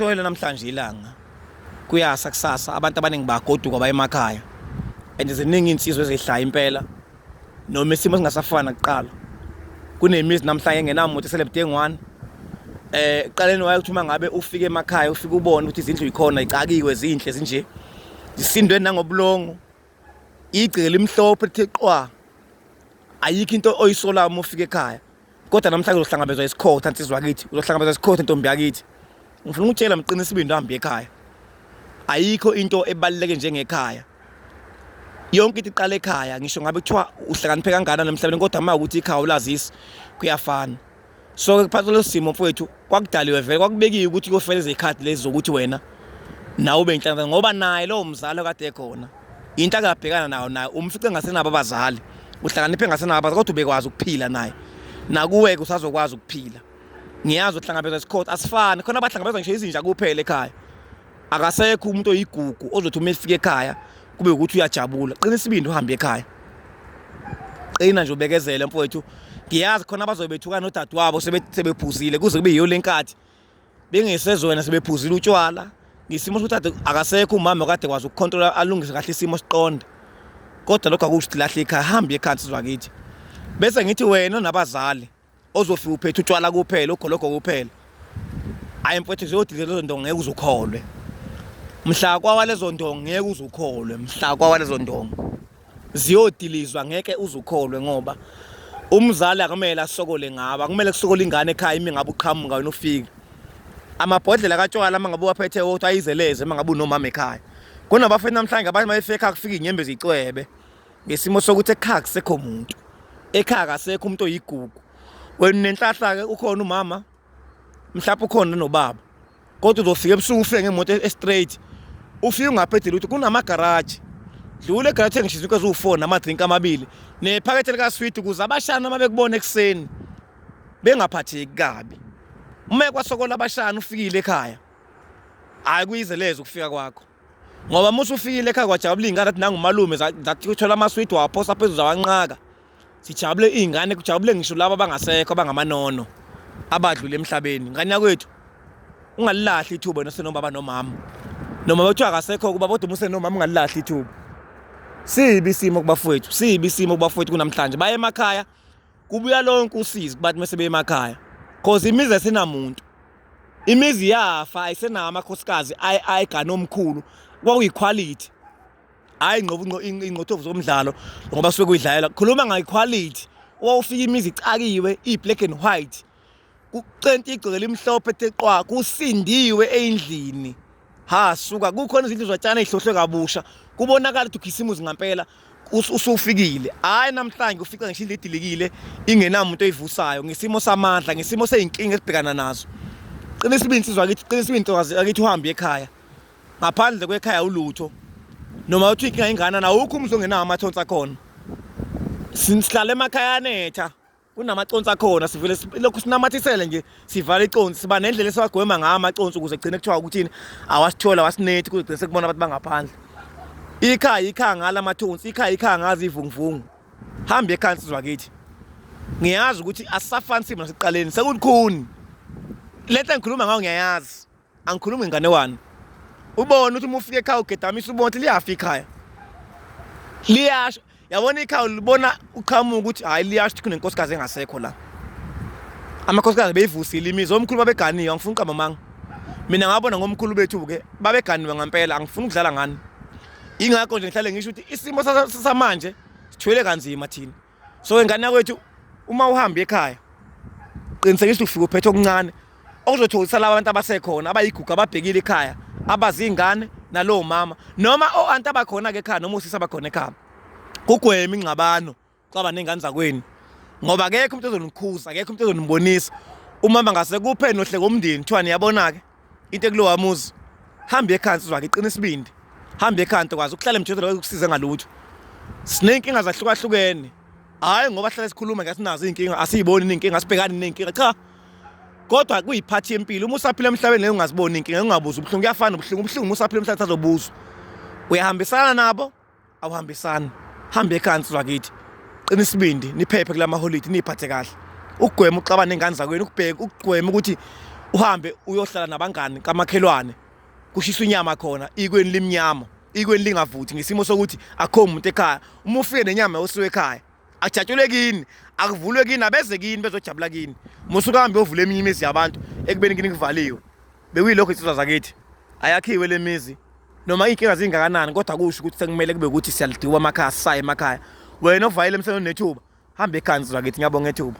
Shoyela namhlanje ilanga kuyasa kusasa abantu abaningi bagoduka baye emakhaya and ziningi insizwe ezihlaya impela noma isimo singasafana kuqala kunemizi namhlanje engenamuntu eselebudenge one eh eqaleni wayokuthi uma ngabe ufike emakhaya ufike ubone ukuthi izindlu yikhona icakiwe zinhle zinje zisindwe nangobulongo igceke limhlophe lithe qwa ayikho into oyisolayo uma ufika ekhaya kodwa namhlanje uzohlangabezwa isikhotha nsizwa yakithi uzohlangabezwa isikhotha ntombi yakithi ngifuna ukutshela mqinisa isibindi uhambe ekhaya ayikho into ebaluleke njengekhaya yonke into iqala ekhaya ngisho ngabe kuthiwa uhlakaniphe kangakanani emhlabeni kodwa uma ukuthi ikhaya ulazisi kuyafana so ke phakathi kwaleso simo mfowethu kwakudaliwe vele kwakubekiwe ukuthi kofela izikhathi lezi zokuthi wena nawe ube inhlanhla ngoba naye lowo mzali okade ekhona into akabhekana nayo naye umfice ngasenabo abazali uhlakaniphe ngasenabo abazali kodwa ubekwazi ukuphila naye nakuwe ke usazokwazi ukuphila ngiyazi uhlangabezwa isikhothi asifani khona abahlangabezwa ngisho izinja kuphela ekhaya akasekho umuntu oyigugu ozothi uma efika ekhaya kube ukuthi uyajabula qina isibindi uhambe ekhaya qina nje ubekezele mfowethu ngiyazi khona abazobe bethukana nodadewabo sebephuzile kuze kube yiyo lenkathi bengesezona sebephuzile utshwala ngisimo sokuthi ade akasekho umama kade kwazi ukucontrola alungise kahle isimo siqonde kodwa lokho akusho ukuthi lahle ekhaya hambe ekhaya sizwa kithi bese ngithi wena nabazali ozofika uphethe utshwala kuphela ugologo kuphela ayi mfowethu ziyodile lezo ndongo ngeke uzukholwe mhla kwawa lezo ndongo ngeke uzukholwe mhla kwawa lezo ndongo ziyodilizwa ngeke uzukholwe ngoba umzali akumele asokole ngabo akumele kusokole ingane ekhaya imi ngabe uqhamuka wena ufike amabhodlela katshwala uma ngabe uwaphethe wodwa ayizeleze uma ngabe unomama ekhaya kunabafethu namhlanje abanye bayefekha kufika inyembe zicwebe ngesimo sokuthi ekhaya kusekho muntu ekhaya kasekho umuntu oyigugu wena nenhlahla ke ukhona umama mhlawumbe ukhona nobaba kodwa uzofika ebusuku ufike ngemoto e-, straight ufike ungaphethe ukuthi kunamagaraji dlula egaraji ngisho izinto eziwu-four nama-drink amabili nephakethe likaswidi ukuze abashana uma bekubona ekuseni bengaphatheki kabi uma ekwasokola abashana ufikile ekhaya hhayi kuyizelezo ukufika kwakho ngoba musa ufikile ekhaya kwajabula iy'ngane athi nangumalume zathi uthola amaswidi wawaphosa phezulu zawanqaka sijabule iy'ngane kujabule ngisho laba abangasekho abangamaNono abadlule emhlabeni ngane yakwethu ungalilahli ithuba wena senobaba nomama noma bethiwa akasekho kuba kodwa umuse nomama ungalilahli ithuba sibi isimo kubafowethu sibi isimo kubafowethu kunamhlanje baye emakhaya kubuya lonke usizi kubantu mese beyemakhaya cause imizi esinamuntu imizi yafa ayisenawo amakhosikazi ayigane omkhulu kwakuyiquality hayi ngqobo ingqothovu zomdlalo ngoba suke kuyidlalela khuluma ngayiquality wawufika imizi icakiwe i-black and white kucenta igceke elimhlophe ethe qwa kusindiwe endlini ha suka kukhona izindlu zotshana ezihlohlwe kabusha kubonakala ukuthi ukhisimuzi ngampela usufikile hayi namhlanje ufica ngisho indlu edilikile ingenamuntu oyivusayo ngesimo samandla ngesimo seyinkinga esibhekana nazo qina isibindi sizwa kithi qina isibindi ntokazi akithi uhambe ekhaya ngaphandle kwekhaya ulutho noma uthi inkinga ingana na ukho umzo ngenawo amathonsi akhona sihlala emakhaya anetha kunamaconsi akhona sivele lokhu sinamathisele nje sivala iconsi siba nendlela esiwagwema ngawo amaconsi ukuze kugcine kuthiwa ukuthini awasithola awasinethi kuze kugcine sekubona abantu bangaphandle ikhaya ikhaya ngala mathonsi ikhaya ikhaya ngazi ivunguvungu hambe ekhaya nsizwa kithi ngiyazi ukuthi asisafani simo nasekuqaleni sekulikhuni lento engikhuluma ngayo ngiyayazi angikhulumi ngengane wani ubone ukuthi uma ufika ekhaya ugedamisa ubona ukuthi liyafa ikhaya liyasho yabona ikhaya ulibona uqhamuka ukuthi hhayi liyasho ukuthi kunenkosikazi engasekho la amakhosikazi beyivusile imizi omkhulu babeganiwe angifuni uqamba manga mina ngabona ngomkhulu bethu-ke babeganiwe ngampela angifuni ukudlala ngani ingakho nje ngihlale ngisho ukuthi isimo samanje sithwele kanzima thina so ingane yakwethu uma uhamba ekhaya qinisekisa ukufika uphethe okuncane okuzothokozisa laba bantu abasekhona abayigugu ababhekile ekhaya abazi ingane nalowo mama noma o-anti abakhona-ke ekhaya noma usisi abakhona ekhaya kugwema ingxabano xaba ney'ngane zakwenu ngoba akekho umuntu ezonikhuza akekho umuntu ezonibonisa umama ngasekuphe nohleko umndeni kuthiwani yabona-ke into ekulowa muzi hamba ekhansi uzwa ngiqina isibindi hamba ekhansi kwazi ukuhlala emjondolo ukusiza ngalutho sinenkinga zahlukahlukene hayi ngoba hlale sikhuluma ngathi nazo izinkinga asiyiboni izinkinga sibhekani nezinkinga cha kodwa kuyiphathi yempilo uma usaphila emhlabeni leyo ungaziboni inkinga ungabuza ubuhlungu kuyafana ubuhlungu ubuhlungu uma usaphila emhlabeni sazobuzwa uyahambisana nabo awuhambisani hambe ekansi lwakithi qina isibindi niphephe kula maholidi niyiphathe kahle ukugwema uxabana nengane zakwenu ukubheka ukugwema ukuthi uhambe uyohlala nabangani kamakhelwane kushisa inyama khona ikweni limnyama ikweni lingavuthi ngesimo sokuthi akho umuntu ekhaya uma ufike nenyama yosuwe ekhaya ajatshulwe kini akuvulwe kini abeze kini bezojabula kini musuke hambe ovula eminye imizi yabantu ekubeni kini kuvaliwe bekuyilokho insizwa zakithi ayakhiwe le mizi noma iy'nkinga zingakanani kodwa kusho ukuthi sekumele kube ukuthi siyalidiwa amakhaya sisaye emakhaya wena ovayele emsebenzini nethuba hambe ekhansi zakithi ngiyabonga ethuba